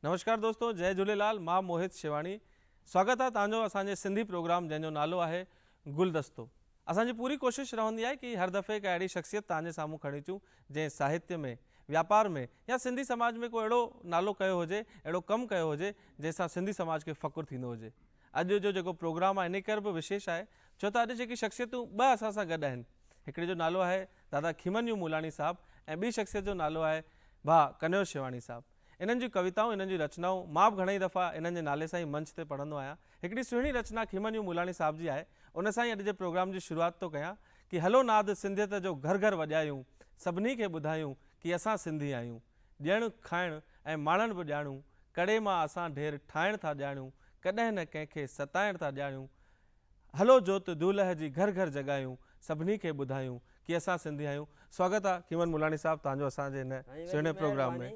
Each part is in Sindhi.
نمشڪار دوستو جئي جهوليلال مان موهت شيواڻي سواگت آهي توهان جو اسان جي سنڌي پروگرام جنهن جو نالو آهي گلدستو اسان جي پوري ڪوشش رهندي آهي ڪي هر دفعي ڪا اهڙي شخصيت توهان جي سامهون کڻي اچون جنهن ساهتيه ۾ واپار ۾ يا سنڌي سماج ۾ ڪو اهڙو نالو ڪيو هجي اهڙو ڪم ڪيو هجي جنهن سان سنڌي سماج کي فخر ٿيندو هجي اڄ جو جيڪو پروگرام آهي ان ڪري به وشيش آهي ڇو ته اڄ جيڪي شخصيتون ٻه اسان سان گڏ آهن هڪڙي جو نالو آهي دادا کيمنيو مولاني صاحب ۽ ٻي شخصيت جو نالو آهي ڀاء ڪنهيو شيواڻي صاحب انهن جون ڪويتائون انهن جون رچنائون مان به گهڻا ئي دفعا انهن جي نالي سان ئي منچ تي پڙهندو آهيان هڪڙي سهڻي رچنا کيمنيو مولاني صاحب جي آهي ان سان ئي اڄ جي پروگرام جي شروعات ٿو ڪيان ڪي هلو ناد سنڌيت جو گهر گهر وڄايون سڀني کي ٻڌايون ڪي اسان سنڌي آهيون. ڏيڻ کائڻ ۽ ماڻڻ به ڄاڻون، ڪڙي مان اسان ڍير ٺاهڻ ٿا ڄاڻون، ڪڏهن نه ڪنهن کي ستائڻ ٿا ڄاڻون، هلو جوت دولهه جي گهر گهر جڳايون، سڀني کي ٻڌايون ڪي اسان سنڌي آهيون. سواگت آ کيمن ملاڻي صاحب تهان جو اسان جي هن سهڻي پروگرام ۾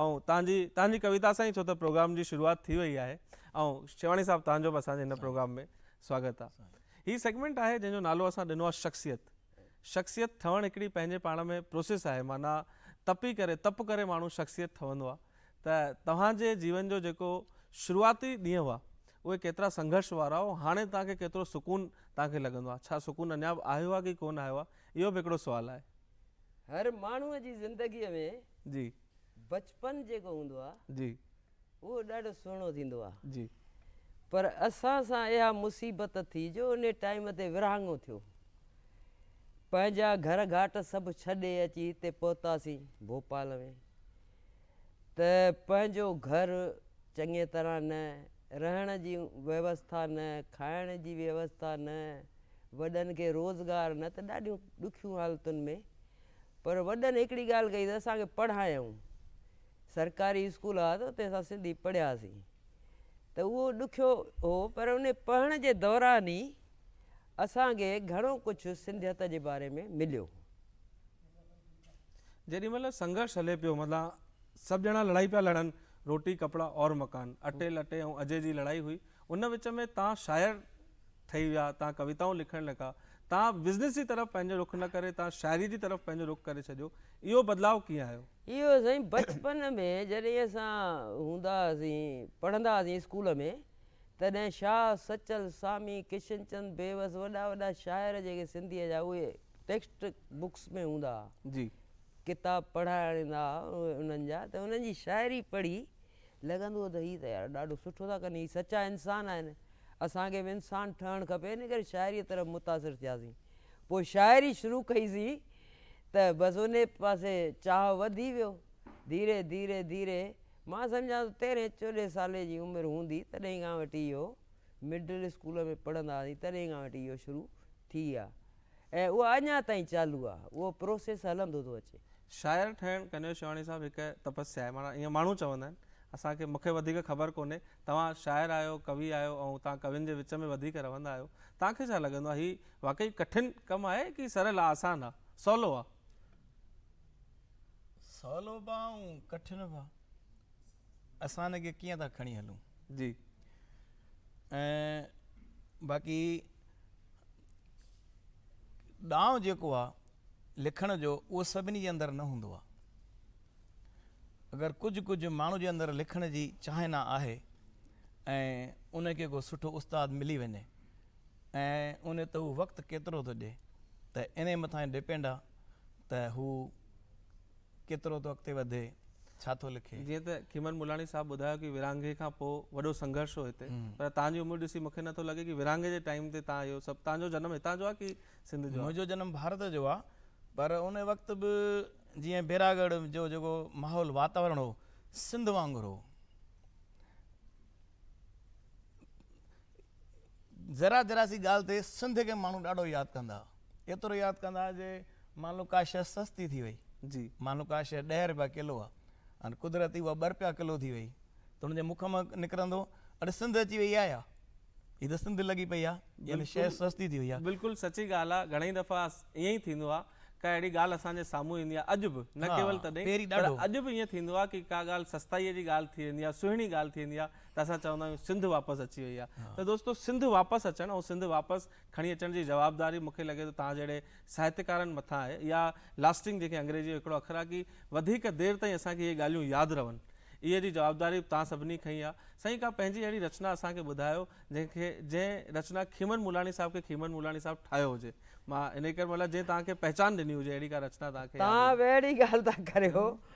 ۽ تهان جي تهان جي ڪويتا سان ئي ڇو ته پروگرام جي شروعات ٿي وئي آهي ۽ شيواڻي صاحب تهان جو به اسان جي هن پروگرام ۾ سواگت آ هي سيگمينٽ آهي جنهن جو نالو اسان ڏنو آ شخصيت شخصيت ٺهڻ هڪڙي پنهنجي پاڻ ۾ پروسيس آهي معنيٰ تپي ڪري تپ ڪري ماڻهو شخصيت ٺهندو آهي ته توهان جي جيون جو جيڪو شروعاتي ڏينهن هئا اهي ڪيترا سنگهرش وارا هئا هاڻي توهان کي ڪيترو سڪون توهان کي لڳندو آهي ڇا سڪون اڃا به آهيو آهي ڪي ڪونه آهيو آهي اهو به هڪڙو سوال آهي. هر ماڻهوء جي زندگيء ۾ جي. بچپن جيڪو هوندو آهي. جي. اهو ڏاڍو سهڻو ٿيندو آ. جي. پر اسان سان اها مصيبت ٿي جو انهي ٽائيم تي ورهاڱو ٿيو. پنهنجا گهر گهاٽ سڀ ڇڏي اچي هتي پهتاسين ڀوپال ۾ ته پنهنجو گهر چڱي طرح نه، رهڻ جي ويوسٿا نه، کائڻ جي ويوسٿا نه، وڏن کي روزگار نه ته ڏاڍيون ڏکيون حالتن ۾ پر وڏن هڪڙي ڳالهه ڪئي ته اسان کي پڙهايائون. سرڪاري اسڪول ھئا ته اتي اسان سنڌي پڙھياسين ته اھو ڏکيو ھو پر ان پڙھڻ جي دوران ئي اسان کي گھڻو ڪجھ سنڌيت جي باري ۾ مليو. جيڏي مھل سنگھرش ھلي پيو متان سڀ ڄڻا لڙائي پيا لڙن روٽي ڪپڙا اور مڪان اٽي لٽي ۽ اجھي جي لڙائي ھئي ان وچ ۾ تان شاعر ٺھي ويا تان ڪويتائون لکڻ لڳا تان بزنس جي طرف پنھنجو رخ نه ڪري تان شاعري جي طرف پنھنجو رخ ڪري ڇڏيو اهو بدلاء ڪيئن آيو؟ اهو سائين بچپن ۾ جڏهن اسان هوندا هئاسين پڙهندا هئاسين اسڪول ۾ تڏهن شاهه سچل سامي ڪشن چند بيوس وڏا وڏا شاعر جيڪي سنڌيء جا اهي ٽيڪسٽ بڪس ۾ هوندا هئا جي. ڪتاب پڙهائڻ ايندا هئا انهن جا ته انهن جي شاعري پڙهي لڳندو هو ته هي ته يار ڏاڍو سٺو ٿا ڪن هي سچا انسان آهن اسان کي به انسان ٺهڻ کپي ان ڪري شاعريء طرف متاثر ٿياسين پوء شاعري شروع ڪئي سين ته بس انهي پاسي چاهه وڌي ويو ڌيري ڌيري ڌيري مان سمجهان ٿو تيرهين چوڏهين سالي جي عمر هوندي تڏهين کان وٺي اهو مڊل اسڪول ۾ پڙهندا هئاسين تڏهين کان وٺي اهو شروع ٿي آ ۽ اها اڃا تائين چالو آهي، اهو پروسيس هلندو ٿو اچي. شاعر ٺهڻ ڪنيو شيواني صاحب هڪ تپسيا آهي معنيٰ ائين ماڻهو چوندا آهن اسان کي مون کي وڌيڪ خبر ڪونهي توهان شاعر آهيو ڪوي آهيو ۽ توهان ڪوين جي وچ ۾ وڌيڪ رهندا آهيو توهان کي ڇا لڳندو آهي هي واقعي ڪٺن ڪم آهي ڪي سرل آهي آسان آهي سولو آهي. سولو به آهي ۽ ڪٺن به آهي. اسان هن کي ڪيئن ٿا کڻي هلون جي ۽ باقي ڏانء جيڪو آ لکڻ جو اهو سڀني جي اندر نه هوندو آ اگر ڪجهه ڪجهه ماڻهو جي اندر لکڻ جي چاهنا آهي ۽ ان کي ڪو سٺو استاد ملي وڃي ۽ ان تي هو وقت ڪيترو ٿو ڏي ته ان مٿان ڊپينڊ آ ته هو ڪيترو ٿو اڳتي وڌي، ڇا ٿو لکي؟ جيئن ته کيمن ملاڻي صاحب ٻڌايو ڪي ورهاڱي کان پوء وڏو سنگهرش هو هتي پر تان جي عمر ڏسي مون کي نه ٿو لڳي ڪي ورهاڱي جي ٽائيم تي تان اهو سڀ تان جو جنم هتان جو آ ڪي سنڌ جو آ؟ منهنجو جنم ڀارت جو آ پر ان وقت به جيئن بيراڳڙهه جو جيڪو ماحول واتاورڻ هو سنڌ وانگر هو. ذرا ذرا سي ڳالهه تي سنڌ کي ماڻهو ڏاڍو ياد ڪندا ها. ايترو ياد ڪندا ها جي مان لو ڪا شيء سستي ٿي وئي. جي. مان لو ڪا شيء ڏهه رپيا ڪلو آ ۽ قدرتي اها ٻه رپيا ڪلو ٿي وئي ته هن جي مک مان نڪرندو اڙي سنڌ اچي وئي آ يا هي ته سنڌ لڳي پئي آ يعني شيء سستي ٿي وئي آ. بلڪل سچي ڳالهه آ گهڻئي دفعا ائين ئي ٿيندو آ ڪا اهڙي ڳالهه اسان جي سامهون ايندي آ اڄ به نه ڪيول تڏهن پر اڄ به ائين ٿيندو آ ڪي ڪا ڳالهه سستائي جي ڳالهه ٿي ويندي آ سهڻي ڳالهه ٿي ويندي آ ته اسان چوندا آهيون سنڌ واپس اچي وئي آهي ته دوستو سنڌ واپس اچڻ ۽ سنڌ واپس کڻي اچڻ جي جوابداري مون کي لڳي ٿو توهان جهڙي ساهتڪارن مٿان آهي يا لاسٽنگ جنهن کي انگريزي جو هڪڙو اکر آهي ڪي وڌيڪ دير تائين اسان کي اهي ڳالهيون ياد رهن اهي جي جوابداري به توهان سڀني کڻي آهي سائين ڪا پنهنجي اهڙي رچنا اسان کي ٻڌايو جنهن کي جنهن رچنا کيمن ملاڻي صاحب کي کيمن ملاڻي صاحب ٺاهيو هجي مان انهي ڪري مطلب جنهن توهان کي پهچان ڏني هجي اهڙي ڪا رچنا توهان کي ياد هجي توهان به اهڙي ڳالهه ٿا ڪريو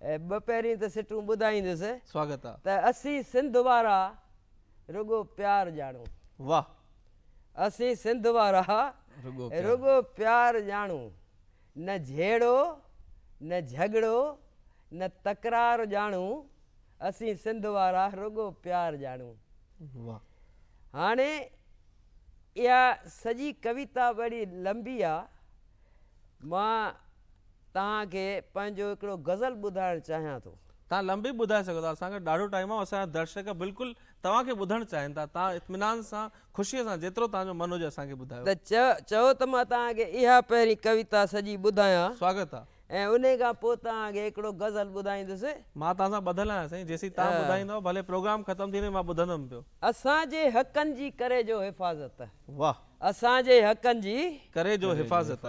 ٻه پهرين ته سٽون ٻڌائيندس سواگت آ. ته اسين سنڌ وارا رڳو پيار ڄاڻون. واھ. اسين سنڌ وارا رڳو پيار. رڳو پيار ڄاڻون. نه جهيڙو نه جهڳڙو نه تڪرار ڄاڻون. اسين سنڌ وارا رڳو پيار ڄاڻون. واھ. هاڻي اها سڄي ڪويتا وڙي لنبي آ مان توهان کي پنهنجو هڪڙو غزل ٻڌائڻ چاهيان ٿو. توهان لنبي ٻڌائي سگهو ٿا، اسان کي ڏاڍو ٽائيم آهي ۽ اسان جا درشڪ بلڪل توهان کي ٻڌڻ چاهين ٿا. توهان اطمينان سان، خوشيء سان جيترو توهان جو من هجي اسان کي ٻڌايو. ته چئو ته مان توهان کي اها پهرين ڪويتا سڄي ٻڌايان. سواگت آ. ۽ انهي کان پوء توهان کي هڪڙو غزل ٻڌائيندس. مان توهان سان ٻڌل آهيان سائين، جيسين توهان ٻڌائيندؤ، ڀلي پروگرام ختم ٿي وڃي مان ٻڌندم پيو. اسان جي حقن جي ڪري جو حفاظت. واهه. اسان جي حقن جي. ڪري جو حفاظت.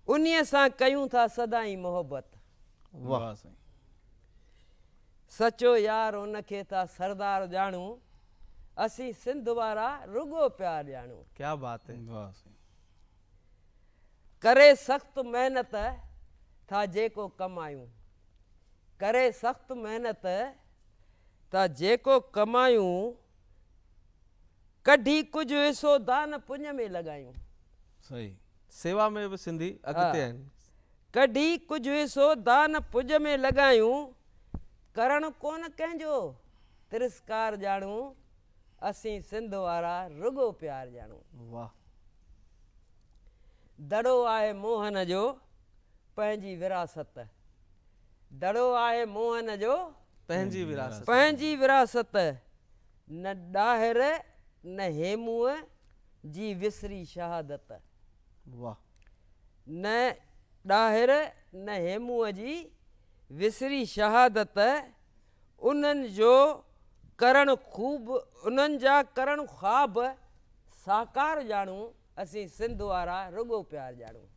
انهيء سان ڪيون ٿا سدائين محبت. واهه سائين. سچو يار ان کي ٿا سردار ڄاڻون. اسين سنڌ وارا رڳو پيار ڄاڻون. ڪيا بات هي. واهه سائين. ڪري سخت محنت ٿا جيڪو ڪمايون. ڪري سخت محنت ٿا جيڪو ڪمايون. ڪڍي ڪجهه حصو دانه پڃ ۾ لڳايون. صحيح سيوا ۾ به سنڌي اڳتي آهن. ڪڍي ڪجهه حصو دانه پڃ ۾ لڳايون، ڪرڻ ڪونه ڪنهن جو ترسڪار ڄاڻون، اسين سنڌ وارا رڳو پيار ڄاڻون. واهه. دڙو آهي موهن جو پنهنجي وراثت. دڙو آهي موهن جو پنهنجي وراثت. پنهنجي وراثت. نه ڏاهر نه هيموء جي وسري شهادت. واهه. نه ڏاهر نه هيموء جي وسري شهادت، انهن جو ڪرڻ خوب، انهن جا ڪرڻ خواب ساڪار ڄاڻون، اسين سنڌ وارا رڳو پيار ڄاڻون.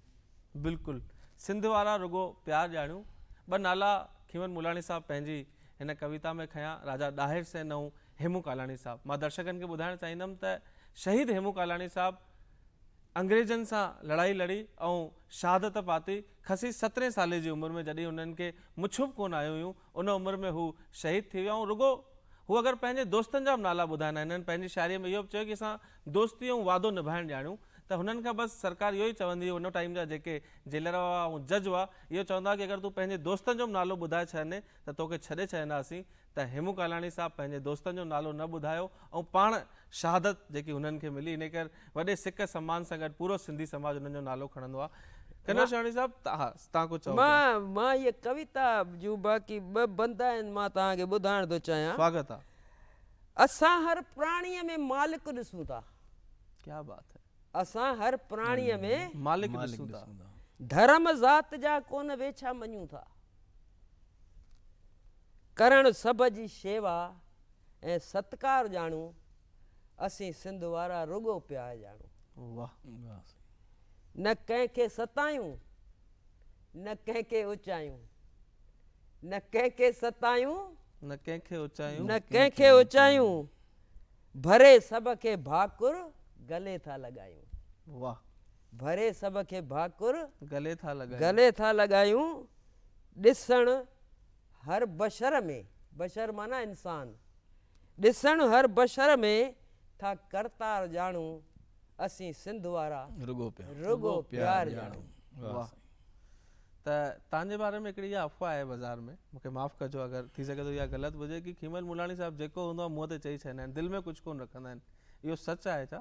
بلڪل سنڌ وارا رڳو پيار ڄاڻون ٻه نالا کيون ملاڻي صاحب پنهنجي هن ڪويتا ۾ کنيا راجا ڏاهر سين ۽ هيمون ڪالاڻي صاحب مان درشڪن کي ٻڌائڻ چاهيندم ته شهيد هيمون ڪالاڻي صاحب انگريزن سان لڙائي لڙي ۽ شهادت پاتي خسي سترهين سالي جي عمر ۾ جڏهن انهن کي مڇون به ڪونه آيون هيون ان عمر ۾ هو شهيد ٿي ويا ۽ رڳو هو اگر پنهنجي دوستن جا به نالا ٻڌائين ها هنن پنهنجي شاعريء ۾ اهو به چيو ڪي اسان دوستي ۽ وعدو نڀائڻ ڄاڻيون ته هنن کان بس سرڪار اهو ئي چوندي هئي ان ٽائيم جا جيڪي جيلر هئا ۽ جج هئا اهو چوندا هئا ڪي اگر تون پنهنجي دوستن جو به نالو ٻڌائي ڇڏيندين ته توکي ڇڏي ڇڏينداسين ته هيمون ڪالاڻي صاحب پنهنجي دوستن جو نالو نه ٻڌايو ائون پاڻ شهادت جيڪي هنن کي ملي انهي ڪري وڏي سڪ سمان سان گڏ پورو سنڌي سماج هنن جو نالو کڻندو آ. ڪنور شهاڻي صاحب ته ها تان ڪجهه چئو پيا. مان هيء ڪويتا جون باقي ٻه بند آهن مان توهان کي ٻڌائڻ ٿو چاهيان. سواگت آ. اسان هر پراڻيء ۾ مالڪ ڏسون ٿا. ڪيا بات هي. اسان هر پراڻيء ۾. مالڪ ڏسون ٿا. ڌرم ذات جا ڪونه ويڇا مڃون ٿا. ڪرڻ سڀ جي شيوا ۽ ستڪار ڄاڻون اسين سنڌ وارا رڳو پيار ڄاڻون نه ڪنهن کي ستايون نه ڪنهن کي اچايون نه ڪنهن کي ستايون نه ڪنهن کي اچايون نه ڪنهن کي اچايون ڀري سڀ کي ڀاڪر گلي ٿا لڳايون واھ ڀري سڀ کي ڀاڪر گلي ٿا لڳايون گلي ٿا لڳايون ڏسڻ هر بشر ۾، بشر معنيٰ انسان، ڏسڻ هر بشر ۾، ٿا ڪرتار ڄاڻون، اسين سنڌ وارا، رڳو پيار ڄاڻون. واهه سائين ته تانجي باري ۾ هڪڙي اها افواهه آهي بازار ۾ مونکي معاف ڪجو اگر ٿي سگهي ٿو اها غلط به هجي ڪي کيمل ملاڻي صاحب جيڪو هوندو آهي منهن تي چئي ڇڏيندا آهن دل ۾ ڪجهه ڪون رکندا آهن اهو سچ آهي ڇا؟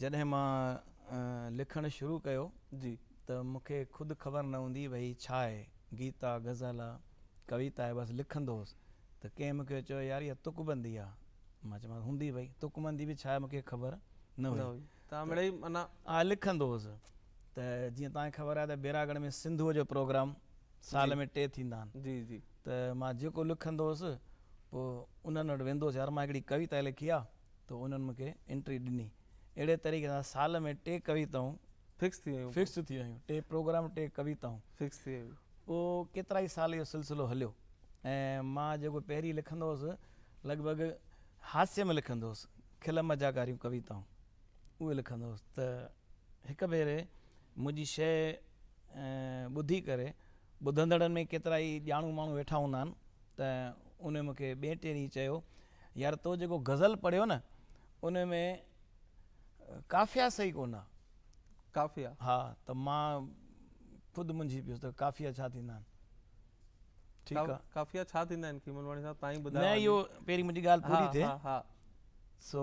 جڏهن مان لکڻ شروع ڪيو ته مون کي خود خبر نه هوندي هئي هي ڇا آهي، گيت آ، غزل آ، ڪويتا آهي بس لکندو هوس ته ڪنهن مون کي چيو يار اها تڪ بندي آ، مان چيومانس هوندي ڀئي، تڪ بندي به ڇا آهي مون کي خبر نه هئي ته آء لکندو هوس ته جيئن توهان کي خبر آهي ته بيراڳڙهه ۾ سنڌوء جو پروگرام سال ۾ ٽي ٿيندا آهن ته مان جيڪو لکندو هوس پوء انهن وٽ ويندو هوس يار مان هڪڙي ڪويتا لکي آ ته انهن مون کي انٽري ڏني. اهڙي طريقي سان سال ۾ ٽي ڪويتائون فڪس ٿي ويون. فڪس ٿي ويون. ٽي پروگرام ٽي ڪويتائون. فڪس ٿي ويون. پوء ڪيترائي سال اهو سلسلو هليو ۽ مان جيڪو پهرين لکندو هوس لڳ ڀڳ هاسي ۾ لکندو هوس، کل مزاق واريون ڪويتائون اهي لکندو هوس ته هڪ ڀيري منهنجي شيء ٻڌي ڪري ٻڌندڙن ۾ ڪيترائي ڄاڻو ماڻهو ويٺا هوندا آهن ته انهن مون کي ٻئي ٽئين ڏينهن چيو يار تو جيڪو غزل پڙهيو نه ان ۾ قافيا صحيح ڪونه قافيا ها ته مان خود منجهي پيس ته قافيا ڇا ٿيندا آهن ٺيڪ آ قافيا ڇا ٿيندا آهن کيملواڻي صاحب تائين ٻڌايو نه اهو پهرين منهنجي ڳالهه پوري ٿئي ها ها سو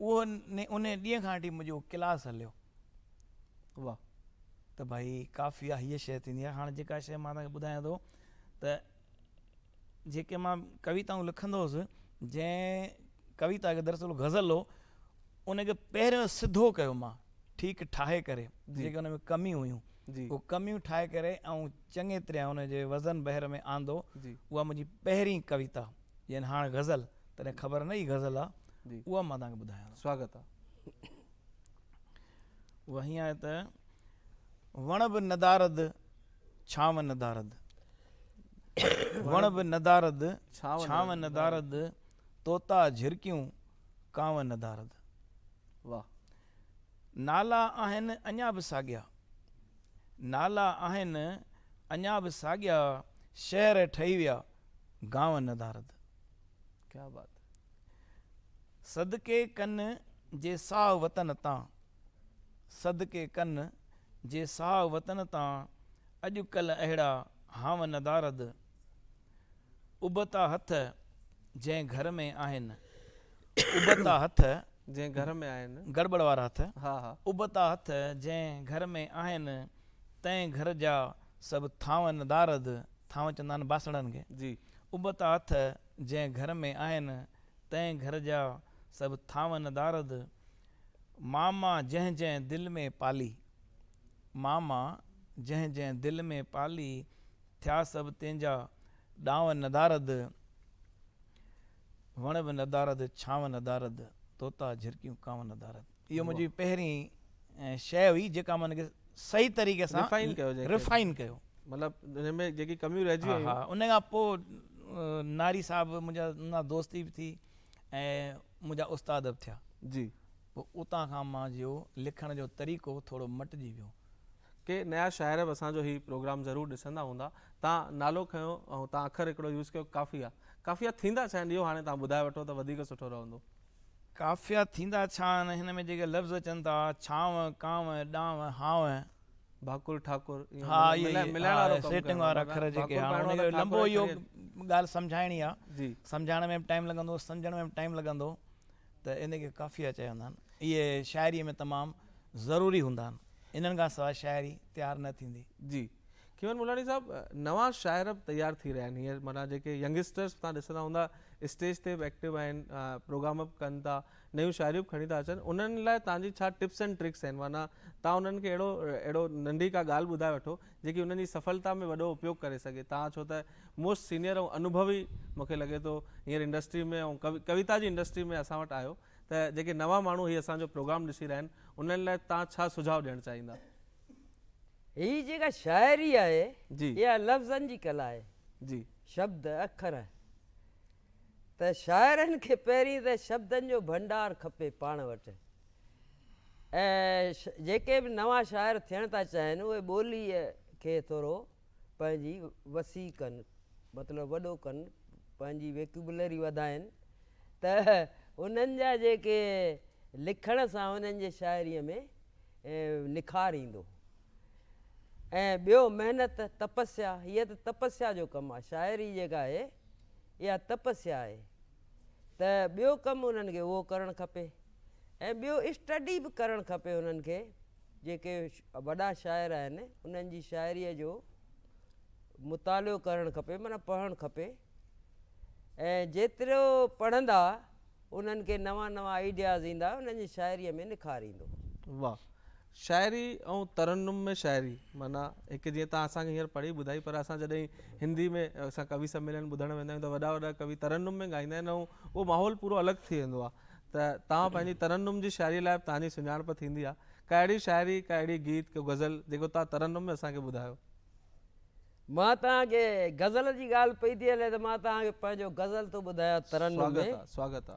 اهو انهيء ڏينهن کان وٺي منهنجو ڪلاس هليو. واهه ته ڀائي ڪافي آ هيء شيء ٿيندي آ. هاڻ جيڪا شيء مان توهان کي ٻڌايان ٿو ته جيڪي مان ڪويتائون لکندو هوس، جنهن ڪويتا کي دراصل غزل هو، ان کي پهريون سڌو ڪيو مان، ٺيڪ ٺاهي ڪري، جيڪي ان ۾ ڪميون هيون، اهي ڪميون ٺاهي ڪري ۽ چڱي طرح ان جي وزن بحر ۾ آندو، اها منهنجي پهرين ڪويتا. يعني هاڻ غزل تڏهن خبر نه هئي غزل آ اها مان توهانکي ٻڌايان ٿو. سواگت آ. اها هيئن آهي ته وڻ به ندارد ڇانو ندارد وڻ به ندارد ڇانو ندارد طوطا جهرڪيون ڪانو ندارد واهه نالا آهن اڃا به ساڳيا نالا آهن اڃا به ساڳيا شهر ٺهي ويا گانء ندارد. ڪيا بات هي. صدقي ڪن جي ساهه وطن تان. صدقي ڪن جي ساهه وطن تان اڄ ڪلهه اهڙا هانء ندارد. ابتا هٿ جنهن گهر ۾ آهن. ابتا هٿ جنهن گهر ۾ آهن. گڙٻڙ وارا هٿ. ها ها. ابتا هٿ جنهن گهر ۾ آهن. تنهن گهر جا سڀ ٿانء ندارد. ٿانء چوندا آهن باسڻن کي. جي. ابتا هٿ جنهن گهر ۾ آهن، تنهن گهر جا سڀ ٿانء ندارد. ماما جنهن جنهن دل ۾ پالي. ماما جنهن جنهن دل ۾ پالي، ٿيا سڀ تنهن جا ڏانء ندارد. وڻ به ندارد، ڇانو ندارد، طوطا جهرڪيون ڪانو ندارد. اهو منهنجي پهرين شيء هئي جيڪا مون کي صحيح طريقي سان ريفائن ڪيو جنهن کي ريفائن ڪيو. مطلب ان ۾ جيڪي ڪميون رهجي ها ويون. ها ان کان پوء ناري صاحب منهنجا ننا دوستي به ٿي ۽ منهنجا استاد به ٿيا. جي. پوء اتان کان مانجو لکڻ جو طريقو ٿورو مٽجي ويو. ڪي نيا شاعر به اسان جو هي پروگرام ضرور ڏسندا هوندا تان نالو کنيو ۽ تان اکر هڪڙو يوز ڪيو قافيه قافيه ٿيندا ڇا آهن اهو هاڻي تان ٻڌائي وٺو ته وڌيڪ سٺو رهندو. قافيا ٿيندا ڇا آهن هن ۾ جيڪي لفظ اچن ٿا ڇانو ڪانو ڏانو هانو. ڀاڪر ٺاڪر ها اهي ئي ملائڻ وارو ڪم سيٽنگ وارا اکر جيڪي ها ان جو لنبو اهو ڳالهه سمجهائڻي آ سمجهائڻ ۾ به ٽائيم لڳندو سمجهڻ ۾ به ٽائيم لڳندو ته ان کي قافيه چوندا آهن. اهي شاعريء ۾ تمام ضروري هوندا آهن. انهن کان سواء شاعري تيار نه ٿيندي. جي کيون ملاڻي صاحب نوان شاعر به تيار ٿي رهيا آهن هينئر معنيٰ جيڪي ينگسٽرس تهان ڏسندا هوندا اسٽيج تي به ايڪٽو آهن پروگرام به ڪن ٿا نيون شاعريون به کڻي ٿا اچن انهن لاء تهان جي ڇا ٽپس اينڊ ٽرڪس آهن معنيٰ تهان انهن کي اهڙو اهڙو ننڍي ڪا ڳالهه ٻڌائي وٺو جيڪي انهن جي سڦلتا ۾ وڏو اپيوگ ڪري سگهي تان ڇو ته موسٽ سينئر ۽ انوڀوي مون کي لڳي ٿو هينئر انڊسٽري ۾ ۽ ڪويتا جي انڊسٽري ۾ اسان وٽ آهيو ته جيڪي نوان ماڻهو هي اسان جو پروگرام ڏسي رهيا آهن انهن لاء تان ڇا سجهاء ڏيڻ چاهيندا. هي جيڪا شاعري آهي اها لفظن جي ڪلا آهي. شبد، اکر. ته شاعرن کي پهرين ته شبدن جو ڀنڊار کپي پاڻ وٽ ۽ جيڪي به نوان شاعر ٿيڻ ٿا چاهين اهي ٻوليء کي ٿورو پنهنجي وسيع ڪن مطلب وڏو ڪن پنهنجي ويڪيبلري وڌائن ته انهن جا جيڪي لکڻ سان انهن جي شاعريء ۾ نکار ايندو ۽ ٻيو محنت تپسيا هيء ته تپسيا جو ڪم آهي شاعري جيڪا آهي اها تپسيا آهي ته ٻيو ڪم انهن کي اهو ڪرڻ کپي ۽ ٻيو اسٽڊي به ڪرڻ کپي انهن کي جيڪي وڏا شاعر آهن انهن جي شاعريء جو مطالعو ڪرڻ کپي معنيٰ پڙهڻ کپي ۽ جيترو پڙهندا انهن کي نوان نوان آئيڊياز ايندا انهن جي شاعريء ۾ نکار ايندو. واھ شاعري ۽ ترنم ۾ شاعري معنيٰ هڪ جيئن تان اسان کي هينئر پڙهي ٻڌائي پر اسان جڏهن هندي ۾ اسان ڪوي سميلن ٻڌڻ ويندا آهيون ته وڏا وڏا ڪوي ترنم ۾ ڳائيندا آهن ۽ اهو ماحول پورو الڳ ٿي ويندو آهي ته تان پنهنجي ترنم جي شاعري لاء تان جي سڃاڻپ ٿيندي آهي ڪا اهڙي شاعري ڪا اهڙي گيت ڪو غزل جيڪو تان ترنم ۾ اسان کي ٻڌايو. مان تان کي غزل جي ڳالهه پئي ٿي هلي ته مان تان کي پنهنجو غزل ٿو ٻڌايان ترنم ۾. سواگت آ سواگت آ.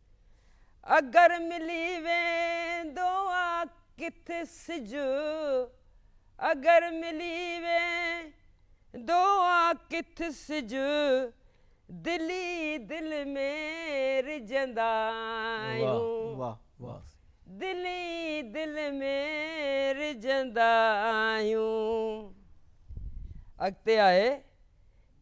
اگر ملي ويندو آ ڪٿ سج اگر ملي ويندو آ ڪٿ سج دل ئي دل ۾ رجندا آهيون دل ئي دل ۾ رجندا آهيون اڳتي آهي.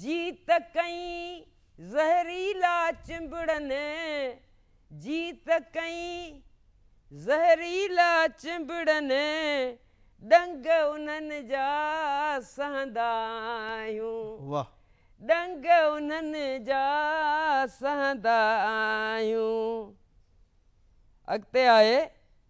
جيت ڪئين زهريلا چنبڙن، جيت ڪئين زهريلا چنبڙن، ڏنگ انهن جا سهندا آهيون، ڏنگ انهن جا سهندا آهيون. اڳتي آهي.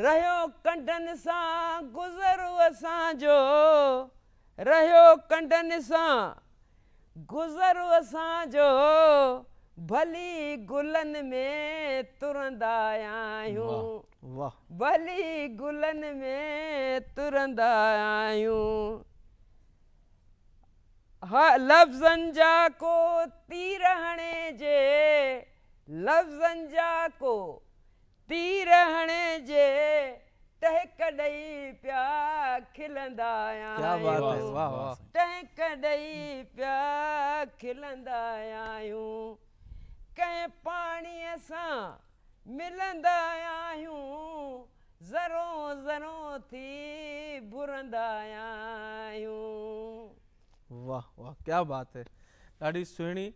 رهيو ڪنڊن سان گذر اسان جو رهيو ڪنڊن سان گذر اسان جو ڀلي گلن ۾ ترندا آهيون ڀلي گلن ۾ ترندا آهيون ها لفظن جا ڪو تير هڻي جي لفظن جا ڪو تير هڻي جي ٽهڪ ڏئي پيا کلندا آهيون ٽهڪ ڏئي پيا کلندا آهيون ڪنهن پاڻيء سان ملندا آهيون ذرو ذرو ٿي ڀرندا آهيون. واھ واھ ڪيا بات هي ڏاڍي سهڻي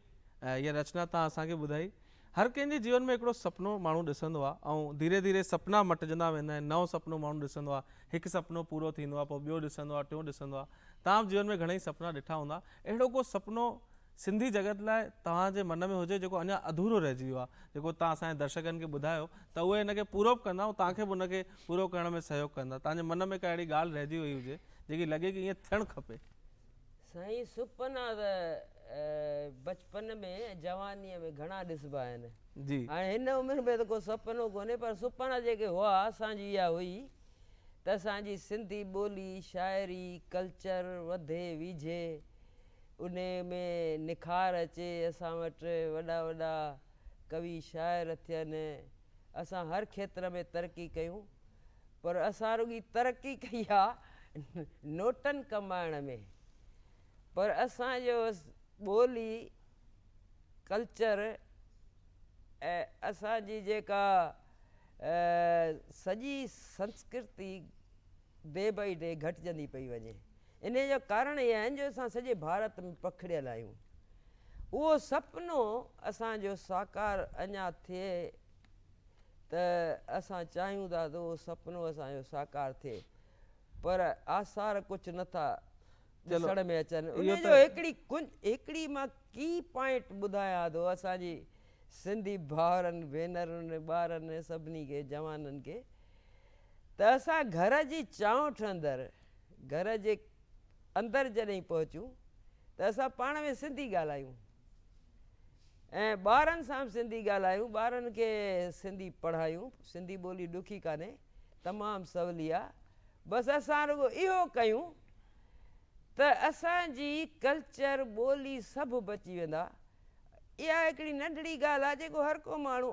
هيء رچنا توهان اسان کي ٻڌائي. هر ڪنهن جي جيون ۾ هڪڙو سپنو ماڻهو ڏسندو آ ۽ ڌيري ڌيري سپنا مٽجندا ويندا آهن نئون سپنو ماڻهو ڏسندو آ هڪ سپنو پورو ٿيندو آ پوء ٻيو ڏسندو آ ٽيون ڏسندو آ تان جيون ۾ گهڻئي سپنا ڏٺا هوندا اهڙو ڪو سپنو سنڌي جڳت لاء توهان جي من ۾ هجي جيڪو اڃا اڌورو رهجي ويو آ جيڪو توهان اسان جي درشڪن کي ٻڌايو ته اهي ان کي پورو به ڪندا ۽ توهان کي به ان کي پورو ڪرڻ ۾ سهيوگ ڪندا توهان جي من ۾ ڪا اهڙي ڳالهه رهجي وئي هجي جيڪي لڳي ڪي ائين ٿيڻ کپي. سائين سپنا ته بچپن ۾ ۽ جوانيء ۾ گهڻا ڏسبا آهن. هاڻي هن عمر ۾ ته ڪو سپنو ڪونهي پر سپنا جيڪي هئا اسان جي اها هئي ته اسان جي سنڌي ٻولي، شاعري، ڪلچر وڌي ويجهي انهيء ۾ نکار اچي اسان وٽ وڏا وڏا ڪوي شاعر ٿين اسان هر کيتر ۾ ترقي ڪيون پر اسان رڳي ترقي ڪئي آ نوٽن ڪمائڻ ۾ پر اسان جو ٻولي ڪلچر ۽ اسان جي جيڪا سڄي سنسڪرتي ڊي بائي ڊي گهٽجندي پئي وڃي انهي جا ڪارڻ اهي آهن جو اسان سڄي ڀارت ۾ پکڙيل آهيون اهو سپنو اسان جو ساڪار اڃا ٿئي ته اسان چاهيون ٿا ته اهو سپنو اسان جو ساڪار ٿئي پر آثار ڪجهه نه ٿا ڏسڻ ۾ اچن انهي جو هڪڙي هڪڙي مان ڪي پوائنٽ ٻڌايان ٿو اسان جي سنڌي ڀائرن ڀينرن ٻارن سڀني کي جوانن کي ته اسان گهر جي چانئٺ اندر گهر جي اندر جڏهن پهچون ته اسان پاڻ ۾ سنڌي ڳالهايون ۽ ٻارن سان به سنڌي ڳالهايون ٻارن کي سنڌي پڙهايون سنڌي ٻولي ڏکي ڪانهي تمام سولي آ بس اسان رڳو اهو ڪيون ته اسان جي ڪلچر ٻولي سڀ بچي ويندا اها هڪڙي ننڍڙي ڳالهه آ جيڪو هر ڪو ماڻهو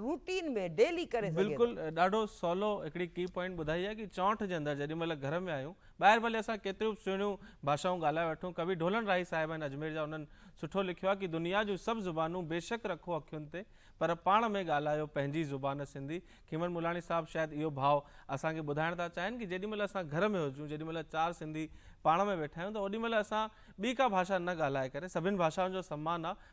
روٽين ۾ ڊيلي ڪري سگهي ٿو. بلڪل ڏاڍو سولو هڪڙي ڪي پوائنٽ ٻڌائي آهي ڪي چونٺ جي اندر جيڏي مهل گهر ۾ آهيون ٻاهر ڀلي اسان ڪيتريون به سهڻيون ڀاشائون ڳالهائي وٺون ڪوي ڍولڻ راهي صاحب آهن اجمير جا انهن سٺو لکيو آهي ڪي دنيا جون سڀ زبانون بيشڪ رکو اکين تي پر پاڻ ۾ ڳالهايو پنهنجي زبان سنڌي کيمن ملاڻي صاحب شايد اهو ڀاء اسان کي ٻڌائڻ ٿا چاهين ڪي جيڏي مهل اسان گهر ۾ هجون جيڏي مهل چار سنڌي پاڻ ۾ ويٺا آهيون ته اوڏي مهل اسان ٻي ڪا ڀاشا نه ڳالهائي ڪري سڀين ڀاشائن جو سمان آهي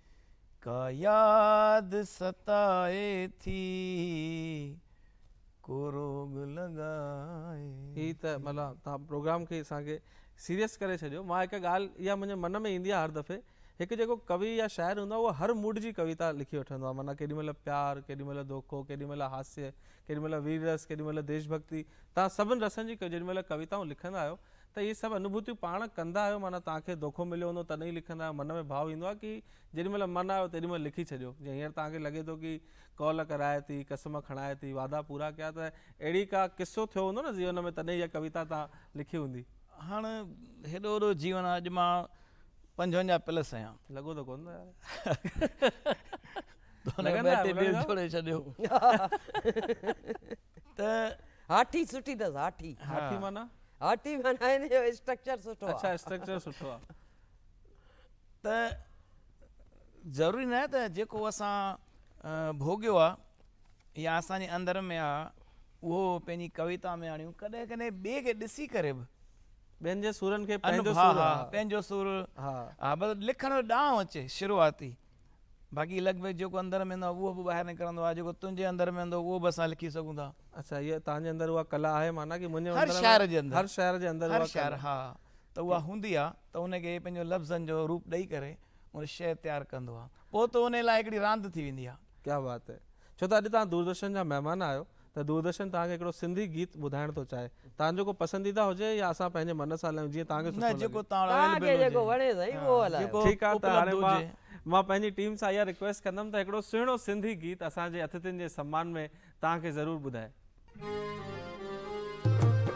ڪا ياد ستائي ٿي ڪو روڳ لڳائي هي ته ٿي. ملا توهان پروگرام کي اسان کي سيريس ڪري ڇڏيو مان هڪ ڳالهه اها منهنجي من ۾ ايندي آهي هر دفعي هڪ جيڪو ڪوي يا شاعر هوندو آهي اهو هر موڊ جي ڪويتا لکي وٺندو آهي معنيٰ ڪيڏي مهل پيار ڪيڏي مهل دوکو ڪيڏي مهل هاسيه ڪيڏي مهل وير رس ڪيڏي مهل ديش ڀڳتي توهان سڀن رسن جي جيڏي مهل ڪويتائون لکندا آهيو ته اهي سڀ انوڀوتيون پاڻ ڪندا آهيو معنيٰ توهان کي دوکو مليو هوندو تڏهن ئي لکندا آهيو من ۾ ڀاو ايندو آهي ڪي جيڏي مهل من آيو تيڏي مهل لکي ڇڏيو جيئن هينئر توهان کي لڳي ٿو ڪي قول ڪرائي ٿي قسم کڻائي ٿي وعدا پورا ڪيا ته اهڙي ڪا قصو ٿيو هوندو نه زيون ۾ تڏهن اها ڪويتا توهان لکي هوندي. هاڻ هيڏو وڏو جيون آهي اڄ مان پنجونجاهه پلس آهيان. لڳو ته ڪونه ٿو يار. لڳندا آهيو. ته هاٺي سٺي اٿس هاٺي هاٺي معنيٰ هاٺي معنيٰ هن جو اسٽرڪچر سٺو آهي اڇا اسٽرڪچر سٺو آهي ته ضروري ناهي ته جيڪو اسان ڀوڳيو آهي يا اسان جي اندر ۾ آهي اهو پنهنجي ڪويتا ۾ آڻيون ڪڏهن ڪڏهن ٻئي کي ڏسي ڪري به ٻين جي سورن کي پنهنجو سور پنهنجو سور لکڻ جو ڏانء اچي شروعاتي باقي لڳ ڀڳ جيڪو اندر ۾ هوندو آهي اهو به ٻاهر نڪرندو آهي جيڪو تنهنجي اندر ۾ هوندو اهو به اسان لکي سگهون ٿا. اڇا هيء تهنجي اندر اها ڪلا آهي معنيٰ ڪي منهنجي اندر هر شاعر جي اندر هر شاعر جي اندر هر شاعر ها ته اها هوندي آهي ته ان کي پنهنجو لفظن جو روپ ڏئي ڪري ان شعر تيار ڪندو آهي پوء ته ان لاء هڪڙي راند ٿي ويندي آهي. ڪيا بات هي ڇو ته اڄ تهان دوردرشن جا مهمان آهيو. ته دوردرشن توهان کي هڪڙو سنڌي گيت ٻڌائڻ ٿو چاهي توهان جو ڪو پسنديده هجي يا اسان پنهنجي من سان هلايون جيئن توهان کي سٺو لڳي. توهان کي جيڪو وڻي سائين اهو هلايو. ٺيڪ آ ته هاڻي مان مان پنهنجي ٽيم سان اها رڪويسٽ ڪندم ته هڪڙو سهڻو سنڌي گيت اسان جي اٿتين جي سمان ۾ توهان کي ضرور ٻڌائي.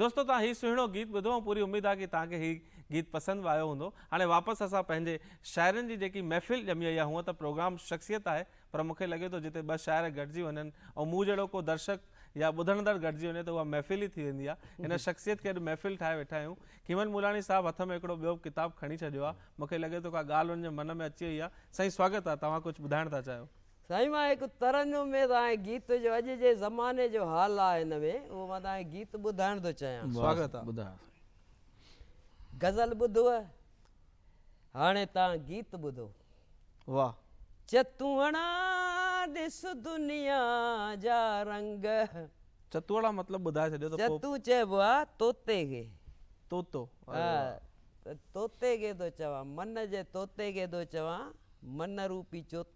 دوستو توهان هي سهڻو گيت ٻڌو ۽ پوري اميد آهي ڪي توهان کي هي گيت پسند به آيو هوندو. هاڻي واپس اسان پنهنجي شاعرن جي جيڪي محفل ڄمي وئي آهي هونء ته پروگرام شخصيت آهي پر مون کي لڳي ٿو جتي ٻه شاعر گڏجي وڃن ۽ مون جهڙو ڪو درشڪ يا ٻڌڻدڙ گڏجي وڃي ته اها محفل ئي ٿي ويندي آهي هن شخصيت کي اڄ محفل ٺاهي ويٺا آهيون کيمن ملاڻي صاحب هٿ ۾ هڪڙو ٻيو ڪتاب کڻي ڇڏيو آهي مون کي لڳي ٿو ڪا ڳالهه هن جي من ۾ اچي وئي آهي سائين سواگت آهي توهان ڪجهه ٻڌائڻ ٿا چاهيو. سائين مان هڪ ترنم ۾ تهانکي گيت جو اڄ جي زماني جو حال آ هن ۾ اهو مان تهانکي گيت ٻڌائڻ ٿو چاهيان. سواگت آ. غزل ٻڌوء هاڻي تان گيت ٻڌو. واھ. چتوڻا ڏس دنيا جا رنگ. چتوڻا مطلب ٻڌائي ڇڏيو ته پوء. چتون چئبو آ طوطي کي. طوطو اري واھ. ها طوطي کي ٿو چوان من جي طوطي کي ٿو چوان من روپي چوطو.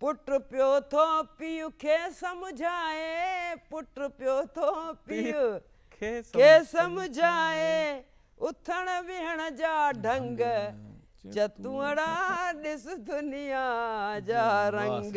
پٽ پيو ٿو پيء کي سمجهائي پٽ پيو ٿو پيء کي سمجهائي اٿڻ ويهڻ جا ڍنگ چتونڙا ڏس دنيا جا رنگ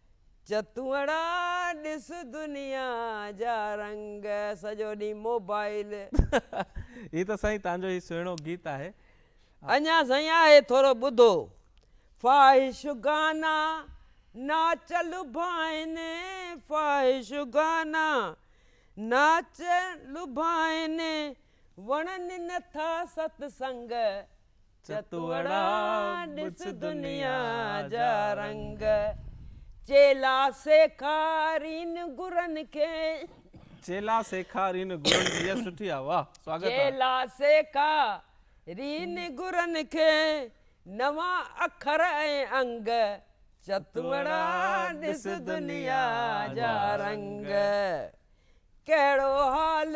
چتوئڙا ڏس دنيا جا رنگ سڄو ڏينهن موبائيل. هي ته سائين تهان جو هي سهڻو گيت آهي. اڃا سائين آهي ٿورو ٻڌو. فاحش گانا ناچ لڀائن فاحش گانا ناچ لڀائن وڻن نٿا ست سنگ چتوڙا ڏس دنيا جا رنگ، چيلا سيکارين گرن کي. چيلا سيکارين گرن کي يس سٺي آ واھ سواگت آ. چيلا سيکارين گرن کي نوان اکر ۽ انگ، چتوڙا ڏس دنيا جا رنگ، ڪهڙو حال.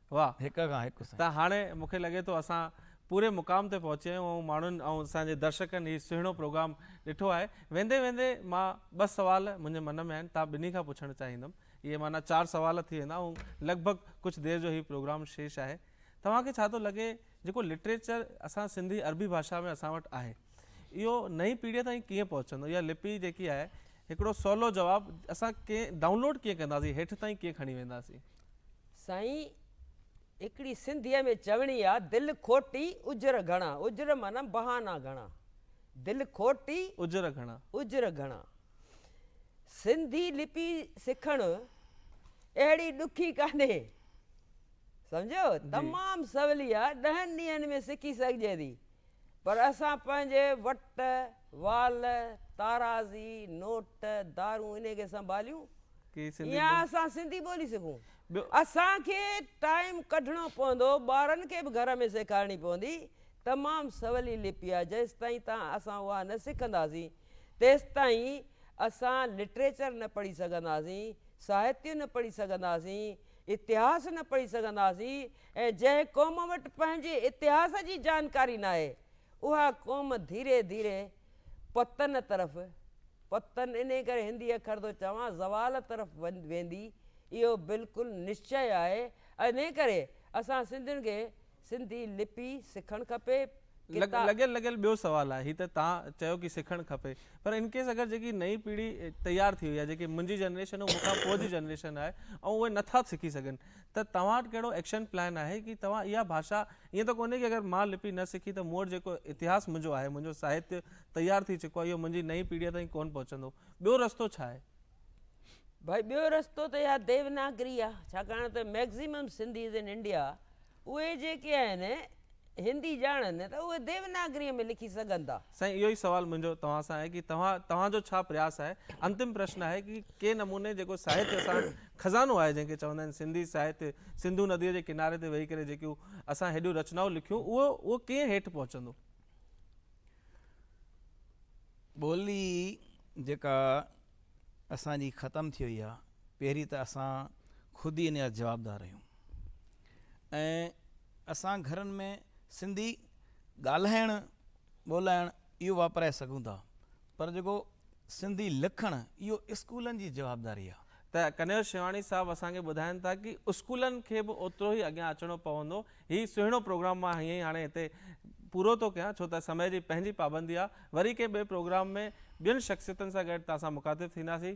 واھ هڪ کان هڪ سائين. ته هاڻي مون کي لڳي ٿو اسان پوري مقام تي پهچي ويا آهيون ۽ ماڻهن ۽ اسان جي درشڪن هي سهڻو پروگرام ڏٺو آهي ويندي ويندي مان ٻه سوال منهنجي من ۾ آهن توهان ٻنهي کان پڇڻ چاهيندم اهي معنيٰ چار سوال ٿي ويندا ۽ لڳ ڀڳ ڪجهه دير جو هي پروگرام شيش آهي توهان کي ڇا ٿو لڳي جيڪو لٽريچر اسان سنڌي عربي ڀاشا ۾ اسان وٽ آهي اهو نئين پيڙهيء تائين ڪيئن پهچندو؟ اها لپي جيڪي آهي، هڪڙو سولو جواب، اسان ڪئين ڊائونلوڊ ڪيئن ڪنداسين، هيٺ تائين ڪيئن کڻي وينداسين؟ سائين هڪڙي سنڌيء ۾ چوڻي آ دل کوٽي اجر گهڻا اجر معنيٰ بهانا گهڻا دل کوٽي اجر گهڻا. اجر گهڻا سنڌي لپي سکڻ اهڙي ڏکي ڪانهي. سمجهيو؟ تمام سولي آ، ڏهن ڏينهن ۾ سکي سگهجي ٿي، پر اسان پنهنجي وٽ، وال، تارازي، نوٽ، دارون انهي کي سنڀاليون يا اسان سنڌي ٻولي سکون؟ اسان کي ٽائيم ڪڍڻو پوندو، ٻارن کي به گهر ۾ سيکارڻي پوندي، تمام سولي لپي آ، جيستائين تان اسان اها نه سکنداسين، تيستائين اسان لٽريچر نه پڙهي سگهنداسين، ساهتيه نه پڙهي سگهنداسين، اتهاس نه پڙهي سگهنداسين ۽ جنهن قوم وٽ پنهنجي اتهاس جي جانڪاري ناهي اها قوم ڌيري ڌيري پتن طرف، پتن انهي ڪري هندي اکر ٿو چوان، زوال طرف ويندي اهو بلڪل نشچي آهي انهي ڪري اسان سنڌين کي سنڌي لپي سکڻ کپي ڪتا. لڳيل لڳيل ٻيو سوال آهي هي ته تان چيو ڪي سکڻ کپي پر ان ڪيس اگر جيڪي نئين پيڙهي تيار ٿي وئي آهي جيڪي منهنجي جنريشن ۽ مونکان پوء جي جنريشن آهي ۽ اهي نٿا سکي سگهن ته توهان وٽ ڪهڙو ايڪشن پلان آهي ڪي توهان اها ڀاشا ائين ته ڪونهي ڪي اگر مان لپي نه سکي ته مون وٽ جيڪو اتهاس منهنجو آهي منهنجو ساهتيه تيار ٿي چڪو آهي اهو منهنجي نئين پيڙهي تائين ڪونه پهچندو ٻيو رستو ڇا آهي ڀائي ٻيو رستو ته اها ديوناگري آ ڇاڪاڻ ته مئڪزيمم سنڌيز ان انڊيا اهي جيڪي آهن هندي ڄاڻن ته اهي ديوناگري ۾ لکي سگهن ٿا. سائين اهو ئي سوال منهنجو توهان سان آهي ڪي توهان توهان جو ڇا پرياس آهي انتم پرشن آهي ڪي ڪي نموني جيڪو ساهتيه اسان خزانو آهي جنهن کي چوندا آهن سنڌي ساهتيه سنڌو نديء جي ڪناري تي ويهي ڪري جيڪيون اسان هيڏيون رچنائون لکيون اهو اهو ڪئين هيٺ پهچندو. ٻولي جيڪا اسان جي ختم ٿي وئي آهي پهرين ته اسان خود ئي ان جا جوابدار آهيون ۽ اسان گهرن ۾ سنڌي ڳالهائڻ ٻولائڻ اهو واپرائي سگهون ٿا پر جيڪو سنڌي لکڻ اهو اسڪولن جي جوابداري آ. ته ڪنهيو شيواڻي صاحب اسان کي ٻڌائين ٿا ڪي اسڪولن کي به اوترو ئي اڳيان اچڻو پوندو. هي سهڻو پروگرام مان هيئن ئي هاڻي هتي پورو ٿو ڪيان ڇو ته سمي جي پنهنجي پابندي آ. وري ڪنهن ٻئي پروگرام ۾ ٻين شخصيتن سان گڏ تهان سان مخاطب ٿينداسين.